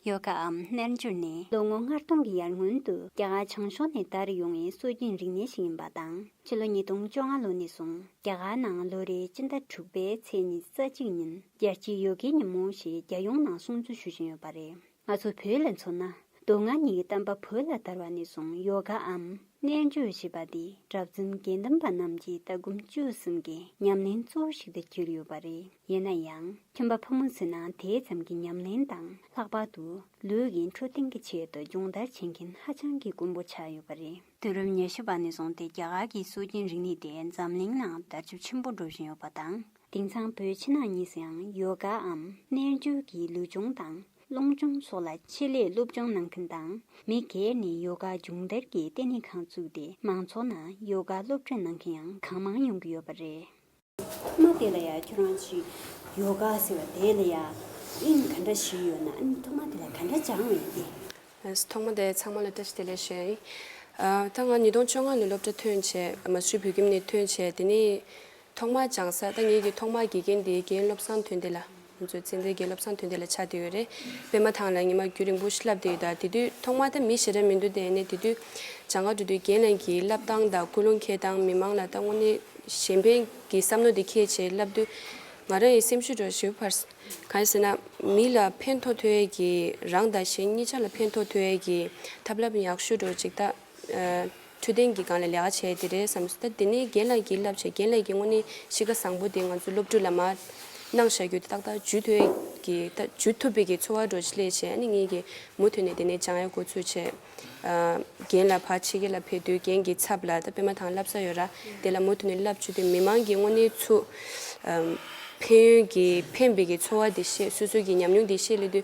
ཡོད་ཀའམ་རྣལ་འབྱོར་ནི་ལོ་ངོ་ལྔ་སྟོང་གི་ཡར་སྔོན་དུ་རྒྱ་གར་བྱང་ཕྱོགས་ནས་དར་ཡོང་བའི་སྲོལ་རྒྱུན་རིག་གནས་ཤིག་ཡིན་པ་དང་ཕྱི་ལོ་ཉིས་སྟོང་བཅོ་ལྔ་ལོ་ནས་བཟུང་རྒྱ་གར་ནང་ལོ་རེའི་སྤྱི་ཟླ་དྲུག་པའི་ཚེས་ཉི་ཙཱ་གཅིག་ཉིན་རྒྱལ་སྤྱིའི་ཡོ་གའི་ཉིན་མོ་ཞེས་རྒྱལ་ཡོངས་ནང་སྲུང་བརྩི་ཞུ་བཞིན་ཡོད་པ་རེད། ང་ཚོ་བོད་ལ་མཚོན་ན་སྡུག་བསྔལ་གཉིས་ཀྱི་གཏམ་པ་བོད་ལ་དར་བ་ནས་བཟུང་ཡོ་གའམ་རྣལ་འབྱོར་ཞེས་པ་འདི་གྲབས་འཛིན་དགེ་འདུན་པ་རྣམས་ཀྱི་ལྟ་སྒོམ་སྤྱོད་གསུམ་གྱི་ཉམས་ལེན་གཙོ་བོ་ཞིག་ཏུ་གྱུར་ཡོད་པ་རེད་ཡིན་ན་ཡང་ཁྱིམ་པ་ཕོ་མོ་ཚོས་ན་དེའི་ཙམ་གྱི་ཉམས་ལེན་དང་ལྷག་པར་དུ་ལུས་ཀྱི་འཕྲོད་བསྟེན་གྱི་ཆེད་དུ་སྦྱོང་བརྡར་བྱེད་མཁན་ཧ་ཅང་གི་དཀོན་པོ་ཆགས་ཡོད་པ་རེད། དུས་རབས་ཉེར་བཞི་པ་ནས་བཟུང་སྟེ་རྒྱ་གར་གྱི་སྲོལ་རྒྱུན་རིག་གནས་དེ་འཛམ་གླིང་ནང་དར་ཁྱབ་ཆེན་པོ་འགྲོ་བཞིན་ཡོད་པ་དང། དེང་སང་བོད་ཕྱི་ནང་གཉིས་སུའང་ཡོ་ག་འམ་རྣལ་འབྱོར་གྱི་ལུས་སྦྱོང་དང་རླུང་སྦྱོང་སོགས་ལ་ཆེད་ལས་སློབ་སྦྱོང་གནང་མཁན་དང་མི་སྒེར་ནས་ཡོ་ག་སྦྱོང་བརྡར་གྱི་ལྟེ་གནས་ཁང་བཙུགས་ཏེ་མང་ཚོགས་ནང་ཡོ་ག་སློབ་ཁྲིད་གནང་མཁན་ཡང་གང་མང་ཡོང་གི་ཡོད་པ་རེད། ཨ་མ་དེ་ལ་ཡང་ཁྱོད་རང་ཚོའི་ཡོ་ག་ཟེར་བ་དེ་ལ་ཡང་དབྱིངས་ག་འདྲ་ཞིག་ཡོད་ན་ཨ་ནི་ཐོག་མ་དེ་ལ་ག་འདྲ་སྦྱང་བ་ཡིན་ཏེ། ཐོག་མ་དེ་ཚང་མ་ལ་ཏི་ཤི་ཏི་ལེ་ཤོད་ཡིན། ད་ང་ཉིས་སྟོང་བཅོ་ལྔ་ནས་སློབ་གྲྭ་ཐོན་བྱས་མ་ཆུ་བོད་ཁྱིམ་ནས་ཐོན་བྱས་དེ་ནས་ཐོག་མར་སྦྱང་ས་ད་ངེད་ཀྱི་ཐོག་མར་དགེ་རྒན་དེའི་རྒན་སློབ་སངས་དོན་འདི་ལ། ང་ཚོའི་ཚན་རྩལ་རྒན་སློབ་སངས་དོན་འདི་ལ་ཆགས་དེ་ཡོད་རེད་དཔེ་མ་ཐང་ལ་ཉི་མ་རྒྱུན་རིང་པོ་ཞིག་བསླབས་དེ་ཡོད་ད་དེ་དུས་ཐོག་མར་ད་མི་ཞེ་དྲག་མི་འདུག་དེ་ནས་དེ་དུས་བྱང་ཁ་འགྲོ་དུས་རྒན་རྣམས་ཀྱིས་བསླབ་སྟངས་དང་ཀུན་སློང་འཁྱེར་སྟངས་མི་མང་ལ་ད་དངོས་གནས་གཞན་ཕན་གྱི་བསམ་མནོ་དེ་ཁྱེད་ཆེ་བསླབས་དུས་ང་རང་ཡི་སེམས་ཤུགས་དྲག་ཞིབ་འཕར། གང་ཞེ་ན། མི་ལ་ཕན་ཐོག་ཐོས་ཡས་ཀྱི་རང་དང་གཞན་གཉིས་ཆ་ལ་ཕན་ཐོག་ཐོས་ཡས་ཀྱི་ཐབས་ལམ་ཡག་ཤོས་དྲོ་ཅིག་ད། འཕྲོད་བསྟེན་གྱི་སྒང་ལ་ལས་ཀ་བྱས་དེ་རེད་བསམ་སོང་ད་དེ་ནས་རྒན་ལགས་ཀྱིས་བསླབ་བྱ་རྒན་ལགས་ཀྱིས་དངོས་གནས་གཤིས་ཀ་བཟང་པོ་དེ་ང་ཚོ་སློབ་ཕྲུག་ལ་མ་གནང་བྱ་རྒྱུ་དེ་ཏག་ཏག་ཇུས་ཐོས་ཀྱི་ཇུས་ཐུབ་པའི་གི་འཚོ་བ་འགྲོ་ཆེད་ལས་བྱས་ཨ་ནི་ངས་ཀྱི་མུ་མཐུད་ནས་དེ་ནས་བྱང་ཡ་གོ་ཚོད་བྱས། རྒན་ལགས་ཕར་ཕྱི་རྒྱལ་ལ་ཕེབས་དུས་རྒན་གྱི་ཚབ་ལ་ད་པད་མ་ཐང་བསླབ་ས་ཡོད་ར་དེ་ལ་མུ་མཐུད་ནས་བསླབ་བྱུས་དེ་མི་མང་གི་དངོས་གནས་ཚུ་ཕན་ཡོན་གྱི་ཕན་པའི་གི་འཚོ་བ་དེ་ཤེས་སོ་སོའི་གི་ཉམས་མྱོང་དེ་ཤེས་སླེ་དུས་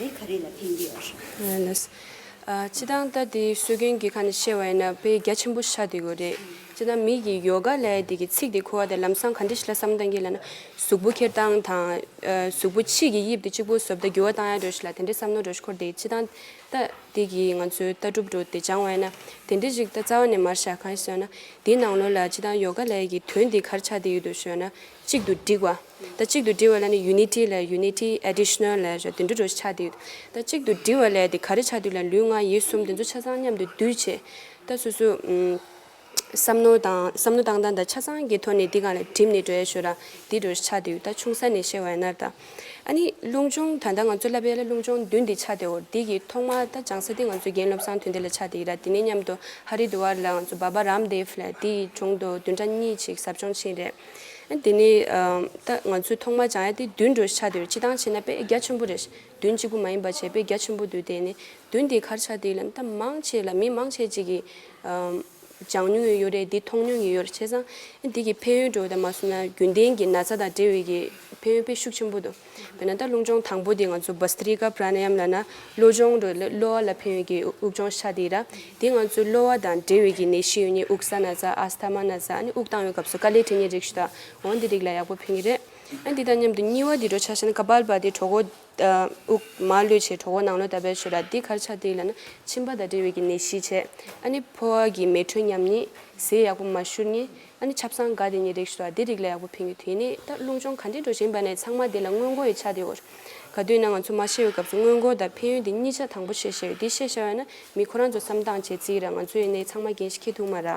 རེད་ག་རེད་ལ་ཐེངས་འདི་ཨོ་ཧྲ། ལས། ཅི་དང་ད་དེ་སྲོལ་རྒྱུན་གྱི་ཁ་ནས་བཤད་བ་ཡིན་ན་ཕའི་རྒྱ་ཆེན་པོ་ཤ་དེ་གོ་རེད། ཅི་དང་མིག་གི་ཡོ་ག་ལས་དེ་གི་ཚིག་དེ་ཁུ་བ་དང་ལམ་སང་ག་འདྲི་ཞིག་ལ་བསམ་གཏང་གི་ལ་ན། གཟུགས་པོ་འཁྱེར་སྟངས་དང། གཟུགས་པོ་ཕྱིས་ཀྱི་དབྱིབས་དེ་གཅིག་པོ་བཟོ་བདའ་འགྱུར་བ་བཏང་ཡག་འགྲོ་ཞིག་ལ་དེ་འདྲི་བསམ་ནོ་འགྲོ་ཞིག་འཁོར་དེ་ཅི་དང། ད་དེ་གི་ང་ཚོའི་ལྟ་གྲུབ་རུ་དེ་སྦྱང་བ་ཡིན་ན། དེ་འདྲི་ཞིག་ད་རྩ་བ་ནས་མར་བཞག་གང་ཞིག་ཟོས་ན། དེའི་ནང་ལོ་ལ་ཅི་དང་ཡོ་ག་ལས་ཀྱི་དོན་དེ་གར་ཆགས་དེ་ཡོད་དོ་ཞོས་ན། གཅིག་ཏུ་སྒྲིག་བ། ད་གཅིག་ཏུ་སྒྲིལ་བ་ལ་ནི Unity ལས Unity Additional ལས་ཞེས་དུད་འགྲོ་འགྲོ་ཆགས་སྡུད། ད་གཅིག་ཏུ་སྒྲིལ་བ་ལས་དེ་ག་རེ་ཆགས་སྡུད་ལ་ལུས་ངག་ཡིད་གསུམ་དེ་ཚོ་ཆ་ཚང་མཉམ་དུ་སྡུད་བྱེད། ད་སོ་སོ། བསམ་མནོ་དང་བསམ་མནོ་བཏང་སྟངས་དང་ཆ་ཚང་གི་ཐོག་ནས་འདི་གང་ལ་བསྒྲིམས་ནས་འགྲོའི་ཞོར་ལ་འདི་འགྲོ་ཆགས་སྡུད་ད་ཆུང་ས་ནས་བཤད་བ་ཡིན་ནར་ད། ཨ་ནི་རླུང་སྦྱོང་ད་ལྟ་ང་ཚོ་བསླབ་པའི་ལ་རླུང་སྦྱོང་བདུན་འདི་ཆགས་སྡེ་འོར་འདི་ཀྱི་ཐོག་མ་ད་སྦྱང་ས་དེ་ང་ཚོ་རྒན་བློ་བཟང་དོན་འདི་ལ་ཆགས་སྡེ་ཡིན་ར་དེ་ནས་མཉམ་དུ Haridwar ལ་ང་ཚོ Baba Ramdev ལས་འདི་ཡི་དྲུང་དུ་བདུན་ཕྲག་གཉིས་ཅིག་ཟབ་སྦྱོང་ཕྱིན་རེད། དེ་ནི། ད་ང་ཚོས་ཐོག་མར་བྱང་ཡ་དེ་བདུན་འགྲོ་ཆ་དེར་ཅི་ཐང་བྱེད་ན་དཔེ་རྒྱ་ཆེན་པོ་རེ་བདུན་གཅིག་པུ་མ་ཡིན་པར་བྱས་དཔེ་རྒྱ་ཆེན་པོ་དུ་དེ་ནི་བདུན་དེའི་ཁར་ཆ་དེ་ལ་ད་མང་ཆེ་ལ་མི་མང་ཆེ་གཅིག་གིས་སྦྱང་མྱོང་ཡོད་རེད་དེ་མཐོང་མྱོང་གི་ཡོད་རེད་བྱས་ཙང། དེ་གི་ཕན་ཡོན་དྲོ་བའི་དང་མ་གསུམ་ན་རྒྱུན་ལྡན་གྱི་ན་ཚ་དང་འབྲེལ་བའི་གི་ཕན་ཡོན་དཔེ་ཤུགས་ཆེན་པོ་དུ། དཔེར་ན་ད་རླུང་སྦྱོང་དང་པོ་དེ་ང་ཚོ Bhastrika Pranayam ལ་ན་གློ་སྦྱོང་རོལ་གློ་བ་ལ་ཕན་ཡོད་ཀྱི་དབུགས་སྦྱོང་ཤ་དེ་ར་དེ་ང་ཚོའི་གློ་བ་དང་འབྲེལ་ཡོད་ཀྱི་ནད་གཞི་ཡོད་ཉེས་དབུགས་ས་ན་ཚ Asthama ན་ཚ་ནི་དབུགས་བཏང་བའི་སྐབས་སུ་དཀའ་ལས་འཕྲད་ཉེན་རེག་ཞུ་དང་འོ་འདི་རིགས་ལ་ཡག་པོ་ཕན་གྱི་རེད། ཡང་དེ་དང་མཉམ་དུ་སྙི་བ་དེ་གྲོ་ཆ་ཤན Kapalbhati དེ་གྲོ་གོ་དབུགས་མ་གློད་ཕྱིར་གྲོ་གོ་ནང་གློད་ལྟ་བས་ཆོད་ར་དེ་གར་ཆ་དེ་ལ་ན་མཆིན་པ་དང་འབྲེལ་ཡོད་ཀྱི་ནད་གཞི་བྱེད་ཨ་ནི་ཕོ་བ་གི་མེ་དྲོད་ཉམས་ཉེས་ཟས་ཡག་པོ་མ་ཞུར་ནི་ཨ་ནི་ཆབ་གསང་དགའ་དེ་ཉིད་རེག་ཞུ་དང་དེ་རིགས་ལ་ཡག་པོ་ཕན་གི་དེ་ནས་ད་རླུང་སྦྱོང་ག་འདྲས་འགྲོ་བཞིན་པ་ནས་ཚང་མ་དེ་ལ་སྔོན་མགོ་ཡི་ཆ་དེ་འོར། ག་དུས་ན་ང་ཚོ་མ་ཤེས་བའི་སྐབས་སུ་སྔོན་མགོ་དང་ཕན་ཡོན་དེ་གཉིས་ཆ་དང་པོ་ཤེས་ཤེས་བས་དེ་ཤེས་ཤེས་བས་ན་མི་ཁོ་རང་ཚོ་བསམ་སྟངས་བྱེད་རྩིས་ར་ང་ཚོའི་ནས་ཚང་མ་འགན་ཞིག་ཁེ་ཐུག་མ་ར།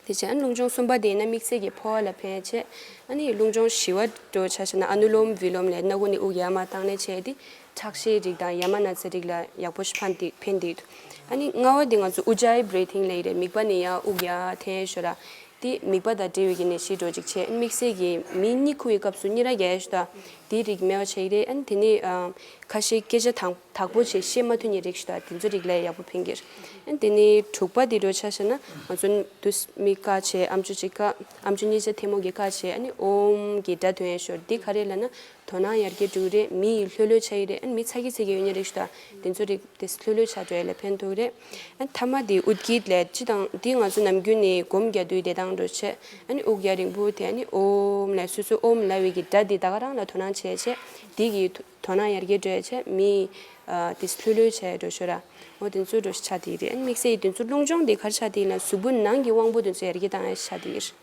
དེ་བྱས་ཨ་ནི་རླུང་སྦྱོང་གསུམ་པ་དེ་ཡིན་ན་མིག་ཚེ་གི་ཕོ་བ་ལ་ཕན་ཆེ། ཨ་ནི་རླུང་སྦྱོང་བཞི་བ་འགྲོ་བྱ་ཞེ་ན་ཨ་ནུ་ལོམ་བི་ལོམ་ལས་སྣ་དགུ་ནི་དབུགས་ཡར་མར་བཏང་ནས་བྱས་ཏེ་ཁྲག་ཤེད་རིགས་དང་ཡ་མ་ན་ཚའི་རིགས་ལ་ཡག་པོ་ཞིག་ཕན་འདུག་ཕན་འདུག་ཨ་ནི་རྔ་བ་འདི་ང་ཚོ་དབུགས་རྒྱ་ཡི Breathing ལས་རེད་མིག་པ་ནི་ཡ་དབུགས་ཡ་ཐེ་ཞོ་ར་དེ་མིག་པ་དང་འབྲེལ་བའི་གི་ནས་ཤི་འགྲོ་ཅིག་བྱེད་ཨ་ནི་དམིགས་བསལ་གི་མིའི་སྙིགས་ཁུ་བའི་སྐབས་སུ་སྙི་ར་རྒྱ་ཡ་ཞོ་ད་དེའི་རིགས་མེད་པ་བྱེད་ཀྱི་རེད་ཨ་ནི་དེ་ནི་ཁ་ཤེད་སྐད་ཆ་དང་དག་པོ་བྱེད་ཤེས་མ་ཐུ་ནི་རིགས་ཞོ་ད་དེ་ཚོའི་རིགས་ལ་ཡག་པོ་ཕན་གྱི་རེད་ཨ་ནི་དེ་ནི་དྲུག་པ་དེ་འགྲོ་ཆ་ཤ་ན་ང་ཚོ་དུ་སྨི་ཀ་བྱེད་ཨམ་ཆུ་གཅིག་ཀ་ཨམ་ཆུ་གཉིས་བྱེད་ཐེ་མོ་གི་ཀ་བྱེད་ཨ་ནི་ཨོམ་གི་སྒྲ་ཐོན་ཡ་ཞོ་ར་དེ་ག་རེ་ལ་ན་དོ་སྣང་ཡར་རྒྱས་འགྲོ་གི་རེད་མི་ཡིས་ལྷོད་ལྷོད་བྱ་ཡི་རེད་མི་ཚ་གི་ཚ་གི་ཡོད་ནི་རིགས་སུ་དང་དེ་ཚོ་རིགས་དེ་ལྷོད་ལྷོད་བྱ་འགྲོ་ཡ་ལས་ཕན་ཐོག་གི་རེད་ཨ་ཐ་མ་དེ་ཨུད་ཀིད་ལས་སྤྱི་དང་དེ་ང་ཚོ་ནམ་རྒྱུན་ནས་སྒོམ་རྒྱ་དུས་བདེ་ཐང་འགྲོ་ཆེད་ཨ་ནི་ཨུག་རྒྱ་རིང་པོ་དེ་ཨ་ནི་ཨོམ་ལས་སོ་སོ་ཨོམ་ལ་ཝི་གི་སྒྲ་དེ་ད་ག་རང་ལ་དོ་སྣང་བྱས་ཡ་ཆེད་དེ་གི་དོ་སྣང་ཡར་རྒྱས་འགྲོ་ཡ་ཆེད་མི་ཡིས་དེ་ལྷོད་ལྷོད་བྱ་ཡ་འགྲོ་ཤོད་ར་ཨོ་དེ་ཚོ་འགྲོ་ཤི་ཆག་དེ་ཡི་རེད་ཨ་ནི་དམིགས་བསལ་ཡིས་དེ་ཚོ་རླུང་སྦྱོང་དེ་གར་ཆག་དེ་ཡིན་ན་གཟུགས་པོ་ནང་གི་དབང་པོ་དེ་ཚོ་ཡར་རྒྱས་བཏང་ཡ་ཆག་དེ་ཡིར།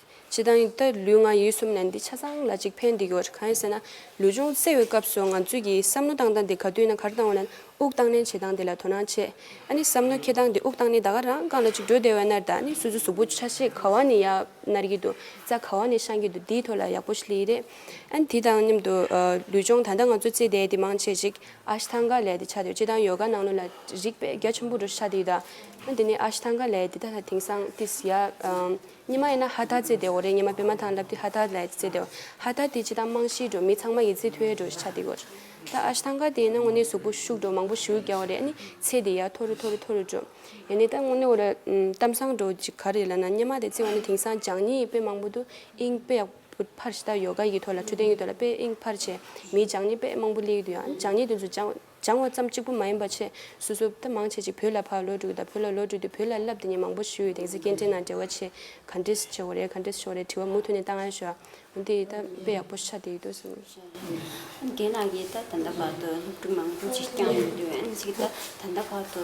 སྤྱི་དང། ད་ལུས་ངག་ཡིད་གསུམ་ནས་འདི་ཆ་ཚང་ལ་གཅིག་ཕན་བདེ་དགེ་བ་རེད་གང་ཡིན་ཟེར་ན། ལུས་ཅུང་བསྲེ་བའི་སྐབས་སུ་ང་ཚོས་ཀྱིས་བསམ་མནོ་བཏང་སྟངས་དེ་ག་དུས་ན་གར་བཏང་བ་ནས་དབུགས་བཏང་ནན་བྱེད་སྟངས་དེ་ལ་དོ་སྣང་བྱེད། ཨ་ནི་བསམ་མནོ་ཁྱེར་སྟངས་དེ་དབུགས་བཏང་ནས་ད་ག་རང་རྐང་ལ་ཅིག་འགྲོ་བདེ་བའི་ནར་ད་ཨ་ནི་སུ་སུ་གཟུགས་པོ་ཆ་ཤས་ག་བ་ནས་ཡག་ནར་གྱི་འདུག་རྩ་ག་བ་ནས་བཤང་གི་འདུག་འདིའི་ཐོག་ལ་ཡག་པོ་ཞིག་ལི་རེད། ཨ་ནི་དེ་དང་མཉམ་དུ། ལུས་སྦྱོང་ད་ལྟ་ང་ཚོས་རྩེད་དེ་དེ་མང་བྱེད་ཅིག་ཨ་ཤི་ཐང་ག་ལས་དེ་ཆ་དེ་སྤྱི་དང་ཡོ་ག་ནང་ནོ་ལ་རིག་པའི་རྒྱ་ཆེན་པོ་འགྲོ་ཤ་དེ་ཡི་ད། ཨ་ནི་དེ་ནས་ཨ་ཤི་ཐང་ག་ལས་དེ་ད་ད་དེང་སང་ཏིས་ཡ། ཉི་མ་ཡིན་ན་ཧ་ཐ་ཙེ་དེའོ་རེད་ཉི་མ་བི་མ་དང་ལབ་ཏི་ཧ་ཐ་ལའི་ཙེ་དེའོ། ཧ་ཐ་དེ་ཇི་ལྟར་རྨང་གཞིའི་འགྲོ་མི་ཚང་མ་ཡི་ཙི་ཐོའི་འགྲོ་ཞེས་བྱ་སྟེ་གོ། ད་ཨ་ཤི་ཐང་ཀ་དེ་ཡིན་ན་དངོས་གནས་གཟུགས་པོ་ཤུགས་འགྲོ་མང་པོ་ཞིའུ་རྒྱའོ་རེད་ཨ་ནི་ཚེ་དེ་ཡར་མཐོ་རུ་མཐོ་རུ་མཐོ་རུ་འགྲོ། ཡ་ནི་ད་དངོས་གནས་འོ་རེད་གཏམ་བཟང་འགྲོ་ཅིག་ག་རེད་ལབ་ན་ཉི་མ་དེ་ཚེ་བ་ནི་དེང་སང་འཇང་གཉིས་དཔེ་མང་པོ་འདུག་ཨིང་དཔེ་ཡག་པོ་ཕར་ཞི་ད་ཡོ་ག་གི་ཐོག་ལ་འཕྲོད་བསྟེན་གི་ཐོག་ལ་དཔེ་ཨིང་ཕར་བྱས་མིའི་འཇང་གཉིས་དཔེ་མང་པོ་ལེགས་འདུག་ཡང་འཇང་གཉིས་དུས་ཚོད་འཇང། སྦྱང་བ་ཙམ་གཅིག་པུ་མ་ཡིན་པར་ཆེས་སོ་སོ་ལྟ་མང་བྱེད་ཅིག་བོད་ལ་ཕར་ལོག་དྲུག་དང་བོད་ལ་ལོག་དྲུག་དུས་བོད་ལ་བསླབ་དེ་ཉིན་མང་པོ་ཞུས་ཡོད་དེང་སི་སྐད་འཕྲིན་ནང་འབྲེལ་བ་ཆེ་ག་འདྲེས་ཆེ་བོ་རེད་ག་འདྲེས་ཆེ་བོ་རེད་དྲི་བ་མུ་མཐུད་ནས་བཏང་ཡ་ཞུ་ཨ་འདི་ཡི་ད་དཔེ་ཡག་པོ་ཤ་དེ་ཡི་དོ་སེམས། རྒན་ལགས་ཀྱིས་ད་ད་ལྟ་བར་དུ་སློབ་ཕྲུག་མང་པོ་ཅིག་བསྐྱངས་ཡོད་དུས་ཨ་ནི་ཅིག་ད་ད་ལྟ་བར་དུ་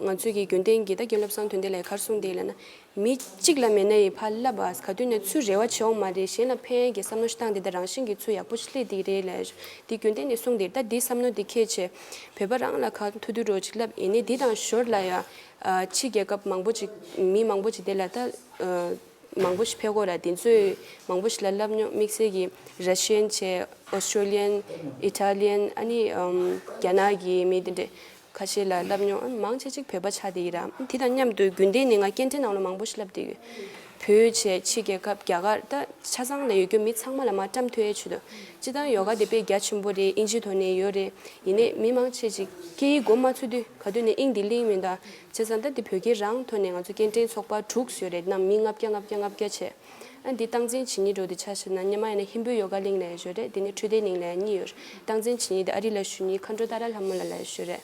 ང་ཚོས་ཀྱི་རྒྱུན་གཏན་གྱི་ད་གྱེན་བློ་བཟང་དོན་དེ་ལས་ཁར་སོང་དེ་ལ་ན། མི་གཅིག་ལ་མེད་ན་ཡི་ཕ་བསླབ་བ་ག་དུས་ནས་ཚུལ་རེ་བ་བྱེད་འོང་མ་རེད་གཞན་ལ་ཕན་ཡན་གྱི་བསམ་མནོ་ཤི་སྟངས་དེ་ད་རང་བཞིན་གྱི་ཚུལ་ཡག་པོ་ཤི་ལེ་དེ་རེད་ལ་དེ་རྒྱུན་གཏན་ནས་སོང་དེ་ད་འདི་བསམ་མནོ་དེ་ཁས་ཆེ། བོད་པ་རང་ལ་གང་ཐུག་ཐུག་རོགས་ཅིག་ལབ་ཡེ་ནས་འདི་དང་ཞོར་ལ་ཡ། ཕྱི་རྒྱལ་ཁབ་མང་པོ་ཅིག་མི་མང་པོ་ཅིག་དེ་ལ་ད། མང་པོ་ཞིག་ཕེ་གོ་ལ་དེ་ཚོས་མང་པོ་ཞིག་ལ་བསླབ་མྱོང་དམིགས་བསལ་གྱི Russian བྱས Australian Italian ཨ་ནི་རྒྱ་ནག་གི་མི་དེ་འདྲས། ཁ་ཤས་ལ་བསླབས་མྱོང་ཨ་མང་ཆེ་གཅིག་བོད་པ་ཆགས་བསྡད་ཡིན་ར་དེ་དང་མཉམ་དུ་རྒྱུན་ལྡན་ནས་ང་སྐད་འཕྲིན་ནང་ལ་མང་པོ་ཞིག་བསླབས་བསྡད་ཡོད་བོད་ཕྱི་རྒྱལ་ཁབ་རྒྱ་གར་ད་ཆ་ཚང་ལ་ཡོད་རྒྱུ་མི་ཚང་མ་ལ་མ་བཀྲམས་ཐོས་ཨེ་ཆུ་དོ་སྤྱི་དང་ཡོ་ག་དེ་དཔེ་རྒྱ་ཆེན་པོ་རེད་དབྱིན་ཇི་དོ་ནས་ཡོད་རེད་ཡིན་ནས་མི་མང་ཆེ་གཅིག་སྐད་ཡིག་མགོ་མ་ཚུགས་དུས་ག་དུས་ནས་དབྱིན་དེ་གླིང་མིན་ད་བྱས་ཙང་ད་དེ་བོད་སྐད་རང་ཐོན་ནས་ང་ཚོ་སྐད་འཕྲིན་ཚོགས་པ་དྲུག་བཟོས་རེད་ནམ་མི་ལྔ་བརྒྱ་ལྔ་བརྒྱ་ལྔ་བརྒྱ་བྱས། ཨ། འདི་སྟངས་འཛིན་བྱེད་ཉིད་འགྲོ་འདི་ཆ་ཤས་ན་ཉི་མ་ཡིན་ན་ཧིན་བོད་ཡོ་ག་གླིང་ལ་ཡེ་ཞོ་རེད་འདི་ནི་འཕྲུལ་རྟའི་གླིང་ལ་ཡང་གཉིས་ཡོད་སྟངས་འཛིན་བྱེད་ཉིད་འདི་ཨ་རི་ལ་ཞུ་ཉིད་མཁའ་འགྲོ་ཏཱ་ར་ལྷ་མོ་ལ་ལ་ཡེ་ཞོ་རེད་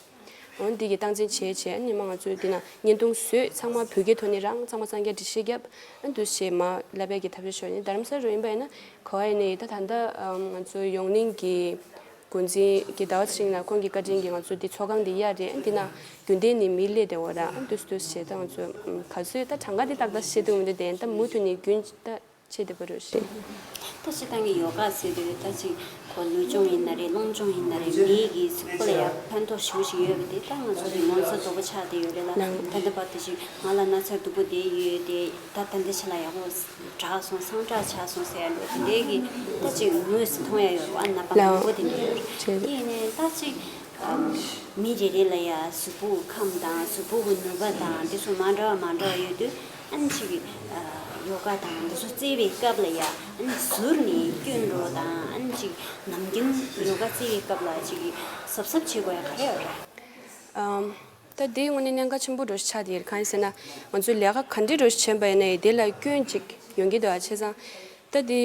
འོན་འདི་གི་སྟངས་འཛིན་བྱེད་བྱེད་ཉི་མ་ང་ཚོས་འདི་ན་བརྙན་ཐུང་བཟོས་ཚང་མ་བོད་སྐད་ཐོག་ནས་རང་ཚང་མ་གསང་རྒྱ་འབྲི་ཤེས་རྒྱབ་ཨ་འདུ་ཤེས་མ་ལ་བད་ཀྱི་ཐབས་ཤེས་ཤོར་ཉིད་དར་མ་ས་རུ་ཡིན་པ་ཡིན་ན་གོ་བ་ཡིན་ནི་ད་ད་ང་ཚོ་ཡོངས་གླིང་གི་འགོ་འཛིན་གྱི་ཟླ་བ་ཚེ་རིང་ལ་ཁོང་གི་བཀའ་དྲིན་གྱིས་ང་ཚོ་འདི་ཚོགས་ཁང་འདི་གཡར་རེད་འདི་ན་རྒྱུན་ལྡན་ནི་མིའི་ལས་དེ་འོ་ར་ལྟོས་ལྟོས་བྱེད་ད་ང་ཚོ་ག་ཚོད་ད་གྲངས་ཀ་དེ་ཏག་ཏག་ཤེས་འདུག་མི་འདུག་དེ་ད་མུ་མཐུད་ནས་རྒྱུན་ད་ཆེད་དེ་པོ་རེད་བཤད། ད་ཤི་ཐང་གི་ཡོ་ག་ཟེར་དུས་ད་ཅི་གོ་ལུས་སྦྱོང་ཡིན་ན་རེད་སློང་སྦྱོང་ཡིན་ན་རེད་མི་ཡི་གི་གཟུགས་པོ་ལ་ཡང་ཕན་ཐོགས་ཞེ་བོ་ཞིག་ཡོད་པ་དེ་ད་ང་ཚོ་གི་ངོ་ཚ་དོག་པོ་ཆགས་དེ་ཡོད་རེད་ལ་ད་ལྟ་བར་དུ་ཅིག་ང་ལ་ན་ཚ་སྡུག་པོ་དེ་ཡོད་དེ་ད་ད་འདི་ཆེ་ལ་ཡག་པོ། གྲགས་སོང་སང་གྲགས་ཆགས་སོང་ཟེར་ཡ་འགྲོ་དེ་འདྲའི་གི་ལྟ་ཅིག་ངོས་སུ་མཐོང་ཡ་ཡོད་རེད་བ་ན་པ་མང་པོ་དེ་འདྲ་ཡོད་རེད་དེ་ཡིན་ནའི་ལྟ་ཅིག་མི་རེ་རེ་ལ་ཡ་གཟུགས་པོ་གི་ཁམས་དང་གཟུགས་པོ་གི་ནུས་པ་དང་དེ་ཚོ་མ་འདྲ་བ་མ་འདྲ་བ་ཡོད་དུས་ཨ་ནི་ཅིག་གི་ཡོ་ག་དང་འདི་ཚོ་བརྩེ་བའི་སྐབས་ལ་ཡ་ཨ་ནི་ཟུར་ནས་བསྐྱོད་འགྲོ་དང་ཨ་ནི་ཅིག་ནམ་རྒྱུན་ཡོ་ག་བརྩེ་བའི་སྐབས་ལ་ཅིག་གི་གཟབ་གཟབ་བྱེད་དགོས་ཡ་ག་རེ་ཡོད་རེད། ད་དེའི་སྔོན་ནས་གནད་འགག་ཆེན་པོ་འགྲོ་ཞིག་ཆགས་ཏེ་གང་ཡིན་ཟེར་ན། ང་ཚོས་ལས་ཀ་ག་འདྲི་འགྲོ་ཞིག་བྱས་པ་ཡིན་ནའི་དེ་ལ་སྐྱོན་ཅིག་ཡོང་གི་འདུག་ཨ་ཆེ་ཚང། ད་དེ།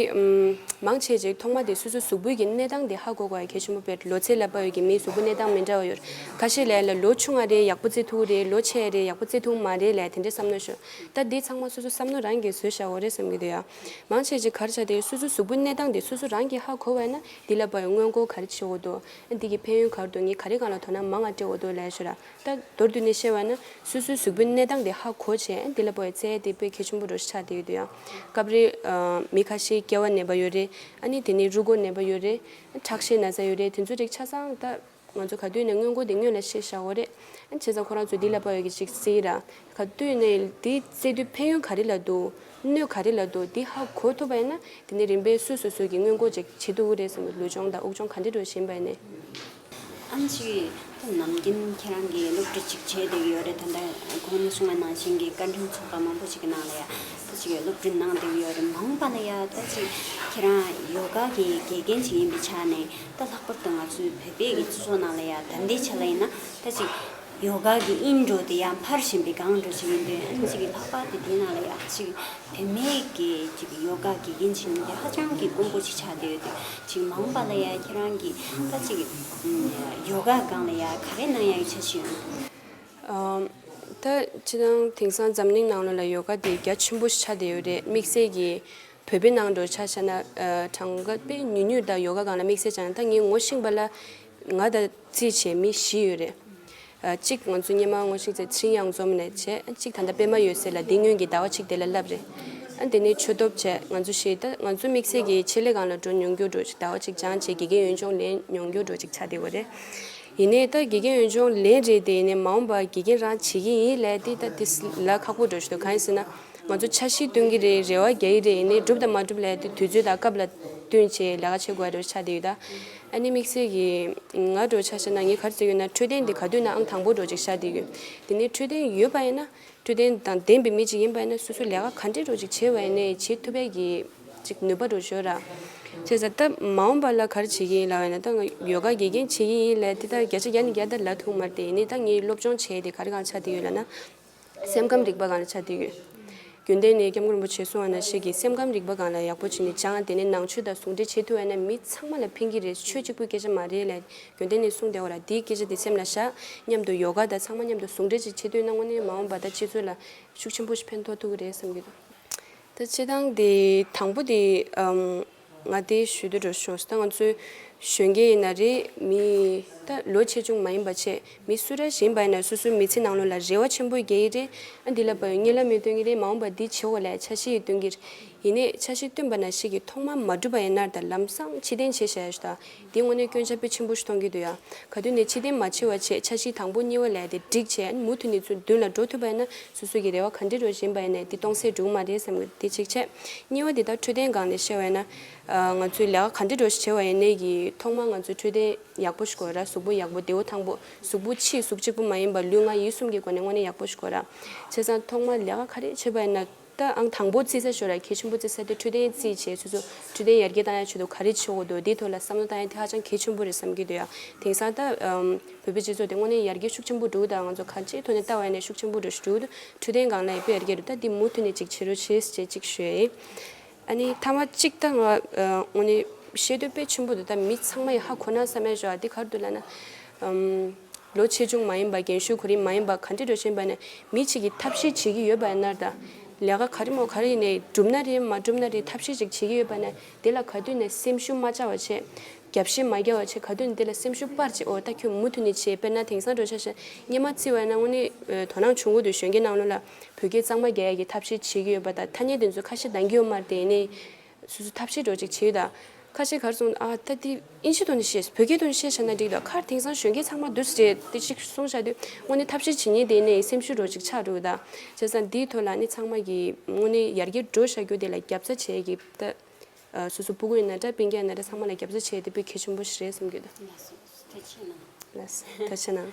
མང་ཆེ་ཅིག་ཐོག་མ་དེ་སོ་སོའི་གཟུགས་པོད་ཀྱི་གནས་སྟངས་དེ་ཧ་གོ་དགོས་པ་གལ་ཆེན་པོ་བེར་ལོ་ཚེ་ལ་བབས་ཡོད་ཀྱི་མིའི་གཟུགས་པོ་གནས་སྟངས་མི་འདྲ་བ་ཡོད། ཁ་ཤས་ལས་ལ་ལོ་ཆུང་བ་རེད་ཡག་པོ་བརྩེ་ཐུག་རེད་ལོ་ཆེ་རེད་ཡག་པོ་བརྩེ་ཐུག་མ་རེད་ལས་དེ་འདྲས་བསམ་ན་ཤོད། ད་དེ་ཚང་མ་སོ་སོ་བསམ་ནོ་རང་གིས་བཟོས་བཞག་འོ་རེད་བསམ་གྱི་འདུག་ཡ། མང་ཆེ་ཅིག་གར་བྱ་དེ་སོ་སོའི་གཟུགས་པོའི་གནས་སྟངས་དེ་སོ་སོ་རང་གིས་ཧ་གོ་བས་ན་དེ་ལ་བབས་ཡོད་སྔོན་གོ་གར་བྱེད་འོ་དོ། འདི་གི་ཕན་ཡོན་གར་འདུག་ངས་ག་རེ་གང་ལ་དོ་ན་མ་ང་ཏྲེ་འོ་དོ་ལས་ཤོ་ར་ཏ། མདོར་དུ་ནས་བཤད་བ་ན་སོ་སོའི་གཟུགས་པོའི་གནས་སྟངས་དེ་ཧ་གོ་བྱས་འདི་ལ་པོ་ཡི་ཚེ་དེ་དཔེ་གལ་ཆེན་པོ་འགྲོ་ཤ་ཆག་དེ་ཡོད་དུ་ཡང། སྐབས་རེ། མི་ཁ་ཤས་སྐྱེ་བ་ནད་པ་ཡོད་རེད། ཨ་ནི་དེ་ནས་རུ་སྒོ་ནད་པ་ཡོད་རེད། ཁྲག་ཤེད་ན་ཚ་ཡོད་རེད་དེ་ཚོ་རིགས་ཆ་ཚང་ཏ། ང་ཚོ་ག་དུས་ནས་སྔོན་གོ་དེ་སྔོན་ལ་ཤེས་བཞག་འོ་རེད། བྱས་ཙང་ཁོ་རང་ཚོས་འདི་ལ་པོ་ཡི་གི་ཅིག་བསྲེ་ཡི་ར། ག་དུས་ནས་འདི་བསྲེ་དུས་ཕན་ཡོན་ག་རེ་ལ་འདུག་སྣོད་ག་རེ་ལ་དུ་འདི་ཧ་གོ་ཐུབ་པ་ཡིན་ན་དེ་ནས་རིམ་པས་སུས་སུ་སུས་ཀྱི་དངོས་མགོ་ཅིག་བྱེད་ཐུབ་ཀྱི་རེད་བསམ་པའི་ལུས་སྦྱོང་དང་དབུགས་སྦྱོང་ག་འདྲེ་འགྲོ་བཞིན་པ་ཡིན་ནས། ཨང་ཅིག་ཁྱོད་ནམ་རྒྱུན་ཁྱེད་རང་གིས་སློབ་ཁྲིད་ཅིག་བྱེད་བསྡད་ཀྱི་ཡོད་རེད་ད་ལྟ་ཁོང་ནས་གསུང་བ་ནང་བཞིན་གྱི་བཀའ་དྲིན་ཚོགས་པ་མང་པོ་ཅིག་གི་ནང་ལ་ཡ་ད་ཅིག་སློབ་ཁྲིད་གནང་བསྡད་ཀྱི་ཡོད་རེད་མ་འོངས་པ་ན་ཡ་ད་ཅིག་ཁྱེད་རང་ཡོ་ག་གི་དགེ་རྒན་ཅིག་ཡིན་པའི་ཆ་ནས་ད་ལྷག་པར་དུ་ང་ཚོའི་བོད་པའི་གི་སོ་ནང་ལ་ཡ་ད་འདི་ཆ་ལ་ཡིན་ན་ད་ཅིག་ཡོ་ག་གི་དབྱིངས་འགྲོ་དེ་ཡང་འཕར་བཞིན་པའི་སྒང་འགྲོ་ཞིག་ཡིན་དུས་ཨེ་ནི་ཅིག་གི་ལྷག་པར་དུ་དེ་ནང་ལ་ཡག་ཅིག་དེ་མེད་ཀི་ཅིག་གི་ཡོ་ག་གི་དབྱིངས་ཞིག་ཡིན་དུས་ཧ་ཅང་གི་དཀོན་པོ་ཅིག་ཆགས་བསྡད་ཡོད་དུས་ཅིག་མང་བ་ལ་ཡང་ཁྱེད་རང་གིས་ད་ཅིག་གི་ཡོ་ག་སྒང་ལ་ཡང་ག་རེ་གནང་ཡག་གི་ཆ་ཞིག་ཡོད། ད་ཅི་སྣང་དེང་སང་འཛམ་གླིང་ནང་ལོ་ལ་ཡོ་ག་དེ་རྒྱ་ཆེན་པོ་ཞིག་ཆགས་བསྡད་ཡོད་རེད་དམིགས་བསལ་གྱི་བོད་པའི་ནང་འགྲོ་ཆ་ཆ་ན་གྲངས་ཀ་དཔེ་ཉུས་ཉུས་དག་ཡོ་ག་སྒང་ལ་དམིགས་བསལ་ཆགས་ན་ད་ངས་ངོ་ཤེས་པ་ལ་ང་དང་རྩིས་བྱེད་མི་བཞི་ཡོད་རེད། གཅིག་ང་ཚོའི་སྙེ་མ་སྔོ་ཤིག་ཚེ་ཆིང་གཡང་འཛོམས་ནས་བྱས། གཅིག་ད་ལྟ་པད་མ་ཡོད་སའི་ལ་ལྡིང་སྔོན་གྱི་ཟླ་བ་ཆིག་དེ་ལ་བསླབས་རེད། དེ་ནས་ཆོས་སྟོབས་བྱས་ང་ཚོ་བཞི་ད་ང་ཚོ་དམིགས་བསལ་གྱིས་ཆེད་ལས་ཁང་ལ་འགྲོ་མྱོང་རྒྱུ་འགྲོ་ཞིག་ཟླ་བ་ཆིག་སྦྱང་བྱས་དགེ་རྒན་ཡོན་ལྗོངས་ལེན་མྱོང་རྒྱུ་འགྲོ་ཞིག་ཆ་དེ་བོ་རེད། ཡིན་ནའི་ད་དགེ་རྒན་ཡོན་ལྗོངས་ལེན་རེད་དེ་ཡིན་ནའི་མ་འོངས་པ་དགེ་རྒན་རང་བྱེད་ཀྱི་ཡིན་ལས་དེ་ད་དེ་ལ་ཁག་པོ་འགྲོ་བཞིན་འདུག་གང་ཡིན་ཟེར་ན། ང་ཚོ་འཆར་གཞི་བཏོན་གྱི་རེད་རེ་བ་རྒྱག་གི་རེད་ཡིན་ནའི་འགྲུབ་དང་མ་འགྲུབ་ལས་དེ་དུས་ཚོད་དང་སྐབས་ལ་བསྟུན་བྱས་ལས་ཀ་བྱེད་དགོས་པ་འགྲོ་ཞིག་ཆ་དེ་ཡོད་ད། ཨ་ནེ་མིག་སེར་གྱིས། ང་འགྲོ་ཆ་ཤས་ན་ངའི་གར་རྩེད་ཡོད་ན་འཕྲོད་བསྟེན་འདི་ག་དུས་ནའང་དང་པོར་འགྲོ་ཅིག་ཤ་འདི་ཡོད། དེ་ནས་འཕྲོད་བསྟེན་ཡོད་པ་ཡིན་ན། འཕྲོད་བསྟེན་དང་ལྡན་པའི་མི་ཅིག་ཡིན་པ་ཡིན་ན་སོ་སོའི་ལས་ཀ་ག་འདྲས་འགྲོ་ཅིག་བྱེད་པ་ཡིན་ནའི་བྱེད་ཐུབ་པའི་གྱི་ཅིག་ནུས་པ་འགྲོ་བྱོས་ར། བྱས་ཟ་སྟབས་མ་འོངས་པ་ལ་གར་བྱེད་ཀྱི་ཡིན་ལ་བས་ན་ད་ང་ཡོད་ག་དགེ་རྒན་བྱེད་ཀྱི་ཡིན་ལ་དེ་ལྟར་བརྒྱ་ཆ་བརྒྱ་ནས་བརྒྱ་དར་ལ་ཐུག་མར་དེ་ཡིན་ནའི་ད་ངའི་སློབ་སྦྱོང་བྱས་དེ་ག་རེ་གང་ཆ་དེ་ཡོད་ལ་ན། སེམས་ཁམས་རིག་པ་གང་ལ་ཆ་མཐུན་ཡོད། རྒྱུན་ལྡན་ནས་སྐྱབས་མགོན་རིན་པོ་ཆེ་གསུང་བ་ན་ཤེས་ཀྱི་སེམས་ཁམས་རིག་པ་གང་ལ་ཡག་པོ་བྱེད་ནི་ཅང་དེ་ནི་ནང་ཆོས་དང་ཟུང་འབྲེལ་བྱེད་ཐུབ་བས་ན་མི་ཚང་མ་ལ་ཕན་གྱི་རེད་ཆོས་གཅིག་པུའི་སྐད་ཆ་མ་རེད་ལ་རྒྱུན་ལྡན་ནས་གསུང་བདེ་བ་ལ་དེའི་སྐད་ཆ་དེ་སེམས་ལ་བཞག་སྙམ་དུ་ཡོ་ག་དང་ཚང་མ་མཉམ་དུ་ཟུང་འབྲེལ་ཅིག་བྱེད་འདོད་ན་དངོས་གནས་མ་འོངས་པ་ད་སྤྱི་ཚོགས་ལ་ཤུགས་ཆེན་པོ་ཞིག་ཕན་ཐོག་ཐུག་གི་རེད་བསམ་གྱི་འདུག་ད་སྤྱི་དང་དེ་དང་པོ་དེ། ང་དེ་ཞུས་དུས་འགྲོ་ཤོག་ཟེར་ད་ང་ཚོའི་གཞོན་སྐྱེས་ཡིན་ན་རེད་མི་ད་ལོ་ཆེ་ཆུང་མ་ཡིན་པ་ཆེད་མི་སུ་ར་བཞིན་པ་ཡིན་ན་སོ་སོའི་མི་ཚེ་ནང་ལོ་ལ་རེ་བ་ཆེན་པོ་རྒྱས་ཡི་རེད་ཨ་འདི་ལ་བ་ཡོད་གཉིས་ལ་མེད་སྟོན་གྱི་རེད་མ་འོངས་པ་འདི་བྱེད་འོ་ལས་ཆ་ཤི་ཡིས་སྟོན་གྱི་ཡིན་ནས་ཆ་ཤི་སྟོན་པ་ན་ཤི་གི་ཐོག་མ་མ་བསྒྲུབ་པ་ཡིན་ནར་ད་ལམ་སང་ཕྱི་གཏན་བྱེད་བཞག་ཡོད་ཤུ་ད་དེའི་སྔོན་གནོད་སྐྱོན་ཆ་ཕོད་ཆེན་པོ་ཞིག་མཐོང་གི་འདུག་ཡ། ག་དུས་ནས་ཕྱི་བསྟན་མ་ཕྱི་བ་བྱས་ཆ་གཞི་དང་པོ་གཉིས་བ་ལས་དེ་སྒྲིག་བྱས་ཨ་ནི་མུ་མཐུད་ནས་ཚུར་མདུན་ལ་འགྲོ་ཐུབ་པ་ཡིན་ན་སོ་སོ་གི་རེ་བ་ག་འདྲི་འགྲོ་བཞིན་པ་ཡིན་ནས་འདི་སྟོང་ཟད་འགྲོ་གི་མ་རེད་བསམ་གི་འདི་གཅིག་བྱས། གཉིས་བ་འདི་ལྟར་འཕྲོད་བསྟེན་སྒང་ནས་བཤད་བ་ཡིན་ན། ང་ཚོས་ལས་ཀ་ག་འདྲི་འགྲོ་ཞིག་བྱས་བ་ཡིན་ནའི་གི་ཐོག་མར་ང་ཚོས་འཕྲོད་བསྟེན་ཡག་པོ་ཞིག་དགོས་ར་གཟུགས་པོ་ཡག་པོ་རྡེའུ་ཐང་པོ་གཟུགས་པོ་ཕྱིའི་གཟུགས་གཅིག་པོ་མ་ཡིན་པ་ལུས་ངག་ཡིད་གསུམ་གི་སྒོ་ནས་དངོས་གནས་ཡག་པོ་ཞིག་དགོས་ར། བྱས་ཙང་ཐོག་མར་ལས་ཀ་ག་རེ་བྱས་པ་ཡིན་ན། ད་ཨང་དང་པོ་རྩིས་ས་ཞོར་ཡ་གྱལ་ཆེན་པོ་རྩིས་ས་དེ་འཕྲོད་བསྟེན་རྩིས་བྱས་ཚོད་ཚོད་འཕྲོད་བསྟེན་ཡར་རྒྱས་བཏང་ཡ་ཆོད་དུ་ག་རེ་བྱེད་འོ་དོ་དེའི་ཐོག་ལ་བསམ་བློ་བཏང་ཡ་དེ་ཧ་ཅང་གལ་ཆེན་པོ་རེད་བསམ་གྱི་འདུག་ཡ་དེང་སང་ད་བོད་པའི་སྤྱི་ཚོགས་དེ་དངོས་གནས་ཡར་རྒྱས་ཤུགས་ཆེན་པོ་འགྲོ་གི་དང་ང་ཚོ་གང་ཅིའི་ཐོག་ནས་ལྟ་བ་ཡ་ནས་ཤུགས་ཆེན་པོ་འགྲོ་བཞིན་འདུག་འཕྲོད་བསྟེན་གང་ལ་ཡག་པོ་ཡར་རྒྱས་འགྲོ་ད་དེ་མུ་མཐུད་ནས་ཅིག་བྱེད་རོ་བྱེད་ཅིག་བྱེད་ཤོད། ཨ་ནི་ཐང་བ་གཅིག་དང། ཨོ་ནི་ཤེས་འདོད་དཔེ་ཆེན་པོ་འདི་དག་མི་ཚང་མ་ཡི་ཧ་གོ་ན་བསམ་མེད་བཞག་འདི་གར་དུ་ལ་ན། ལོ་ཆེ་ཆུང་མ་ཡིན་པ་རྒན་ཤོས་གོ་རིམ་མ་ཡིན་པ་ག་འདྲི་འགྲོ་བཞིན་པ་ནས་མི་གཅིག་གིས་ཐབས་ཤེས་བྱེད་ཀྱི་ཡོད་པ་ཡིན་ནར་ད། ལས་ཀ་ག་རེ་མོ་ག་རེ་ཡིན་ནའི་འགྲུབ་ན་རེད་མ་འགྲུབ་ན་རེད་ཐབས་ཤེས་ཅིག་བྱེད་ཀྱི་ཡོད་པ་ནས་དེ་ལ་ག་དུས་ནས་སེམས་ཤུགས་མ་བཅའ་བ་བྱས། རྒྱབ་བཤད་མ་རྒྱག་བ་བྱས་ག་དུས་ནས་དེ་ལ་སེམས་ཤུགས་སྤར་བྱས་ཨོ་ད་ཁྱོད་མུ་མཐུད་ནས་བྱས་དཔེར་ན་དེང་སང་འགྲོ་ཆ་ཞེ་གཉིས་མ་བརྩི་བ་ཡིན་ན་ཨོ་ནི་དོ་སྣང་ཆུང་གོ་དུས་གཞོན་སྐྱེས་ནང་བློ་ལ། བོད་སྐད་གཙང་མ་རྒྱ་ཡིག་གི་ཐབས་ཤེས་བྱེད་ཀྱི་ཡོད་པ་དང་ཐ་སྙད་དེ་ཚོ་ཁ་ཤས་འདང་གི་ཡོད་མ་རེད་དེ་ནས། སོ་སོ་ཐབས་ཤེས་སྒྲོག་ཅིག་བྱེད་ཡུལ་དང། ཁ་ཤས་གར་སོང་ཨ་ད་དེ་ཨིན་ཤི་དོན་དུ་བཤད་བོད་སྐད་དོན་དུ་བཤད་བྱ་ན་འགྲིག་ད་ཁར་དེང་སང་གཞོན་སྐྱེས་ཚང་མ་བསྡུ་ཟེར་རེད་དེ་ཅིག་གསུང་བྱ་དུས་དངོས་གནས་ཐབས་ཤེས་བྱེད་ཉེན་དེ་ནས་སེམས་ཤུགས་སྒྲོག་ཅིག་ཆགས་འདུག་ད། བྱས་ཙང་དེའི་ཐོག་ལ་ནི་ཚང་མ་གིས་དངོས་གནས་ཡར་རྒྱས་འགྲོ་བྱ་རྒྱུ་དེ་ལ་རྒྱབ་རྩ་བྱེད་ཀྱི་ད། སོ་སོ་སྤུ་རྒོད་ན་འདྲ་བན་རྒྱ་ན་འདྲ་ཚང་མ་ལ་རྒྱབ་རྩ་བྱེད་དེ་པོས་གལ་ཆེན་པོ་ཞིག་རེད་བསམ་གྱི་འདུག། ལ་སོགས་ཐོས་ཆེ་གནང། ལ་སོགས་ཐོས་ཆེ་གནང།